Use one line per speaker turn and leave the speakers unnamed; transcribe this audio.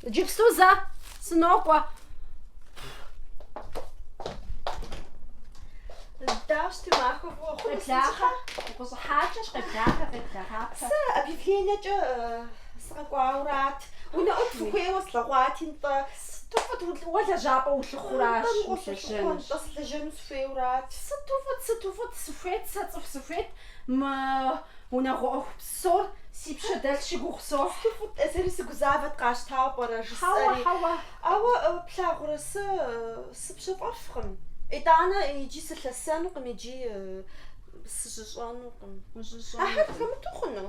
Иджыпсту зэ
сынокӏуэ. Здравствуй, Махуэ, Къеблахъэ,
укъыщӏыхьакӏэщ, къеблахъэ, къеблахъапэ.
Сэ объявлениекӏэ сыкъэкӏуаурат. Унэӏут фыхуейуэ слъэгъуати, нтӏэ. Сыту фӏыт
уэ лэжьапӏэ улъыхъуращ. Нтӏэ, нтӏэ
сылэжьэну сыхуейурат. Сыту фӏыт, сыту
фӏыт, сыхуейт, сэ цӏыху сыхуейт. Мы унагъуэ ӏуэху псор си пщэ дэлъщи гугъу сохь. Сыту фӏыт-тӏэ, сэри сыгузавэт
къащтауэ пӏэрэ, жысӏэри. Хьэуэ, хьэуэ. Ауэ, плъагъурэ, сэ сыпщэфӏэфкъым. Итӏанэ икӏи сылъэсэнукъым, икӏи сыжьыщӏэнукъым. Ужьыщӏэнукъым. Ахэр хэмыту хъуну?